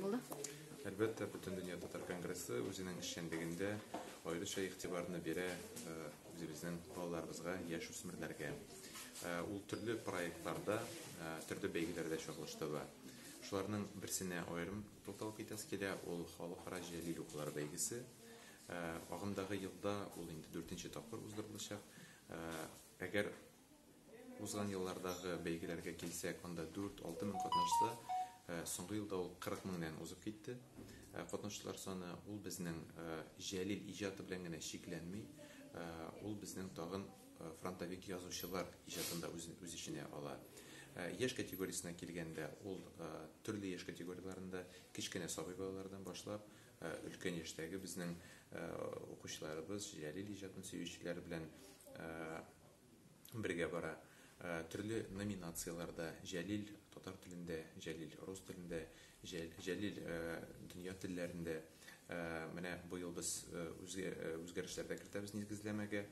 Булды. Әлбәттә, бөтен дөнья татар конгрессы үзенең эшчәнлегендә аеруча игътибарны бирә э, үзебезнең балаларыбызга, яшь үсмерләргә. Э, ул төрле проектларда, э, төрле бәйгеләрдә чагылышты бар. Шуларның берсенә аерым тукталып китәсе килә, ул халыкара җәлил укулар бәйгесе. Агымдагы елда ул инде 4 тапкыр уздырылачак. Әгәр Узган еллардагы бәйгеләргә килсәк, анда дүрт, алты мең катнашса, соңгы елда ул кырык меңнән узып китте. Катнашучылар саны ул безнең Җәлил иҗаты белән генә чикләнми, ул безнең тагын фронтовик язучылар иҗатын да үз эченә ала. Яшь категориясенә килгәндә, ул төрле яшь категорияләрендә, кечкенә сабый балалардан башлап, өлкән яшьтәге безнең укучыларыбыз, Җәлил иҗатын сөючеләр белән бергә бара. Төрле номинацияләрдә Җәлил, татар телендә, Җәлил, рус телендә, Җәлил, дөнья телләрендә. Менә быел без үзгәрешләр дә кертәбез нигезләмәгә.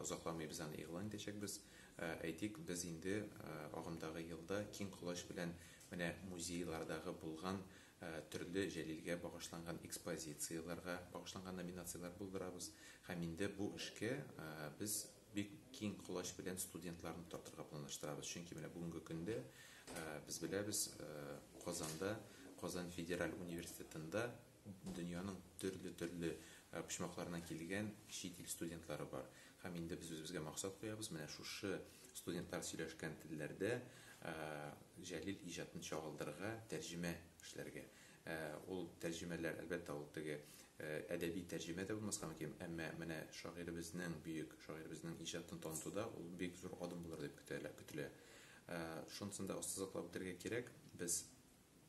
Озакламый без аны игълан итәчәкбез. Әйтик, без инде агымдагы елда киң колач белән менә музейлардагы булган төрле Җәлилгә багышланган экспозицияләргә багышланган номинацияләр булдырабыз һәм инде бу эшкә без бик киң колач белән студентларны тартырга планлаштырабыз, чөнки менә бүгенге көндә без беләбез, Казанда, Казан федераль университетында дөньяның төрле-төрле почмакларыннан килгән чит ил студентлары бар. Һәм инде без үзебезгә максат куябыз, менә шушы студентлар сөйләшкән телләрдә Җәлил иҗатын чагылдырырга, тәрҗемә эшләргә. Ул тәрҗемәләр, әлбәттә, ул теге әдәби тәрҗемә дә булмаска мөмкин, әмма менә шагыйребезнең, бөек шагыйребезнең иҗатын танытуда ул бик зур адым булыр дип көтелә. Шунысын да ассызыклап үтәргә кирәк, без,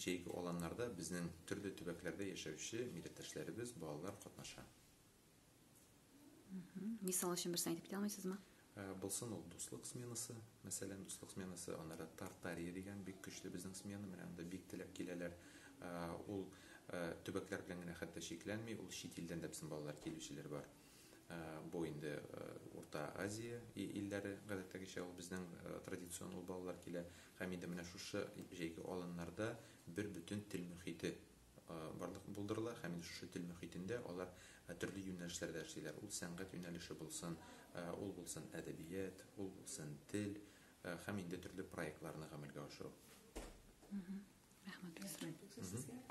Җәйге аланнарда безнең төрле төбәкләрдә яшәүче милләттәшләребез, балалар катнаша. Мисал өчен берсен әйтеп китә алмыйсызмы? Булсын ул дуслык сменасы, мәсәлән, дуслык сменасы, аннары Тартария дигән бик көчле безнең смена, менә анда бик теләп киләләр. Ул төбәкләр белән генә хәтта чикләнми, ул чит илдән дә безнең балалар килүчеләр бар. Бу инде Урта Азия илләре, гадәттәгечә ул безнең традицион ул балалар килә. Һәм инде менә шушы җәйге аланнарда бер бөтен тел мөхите барлык булдырыла һәм инде шушы тел мөхитендә алар төрле юнәлешләрдә эшлиләр. Ул сәнгать юнәлеше булсын, ул булсын әдәбият, ул булсын тел һәм инде төрле проектларны гамәлгә ашыру. Рәхмәт, профессор.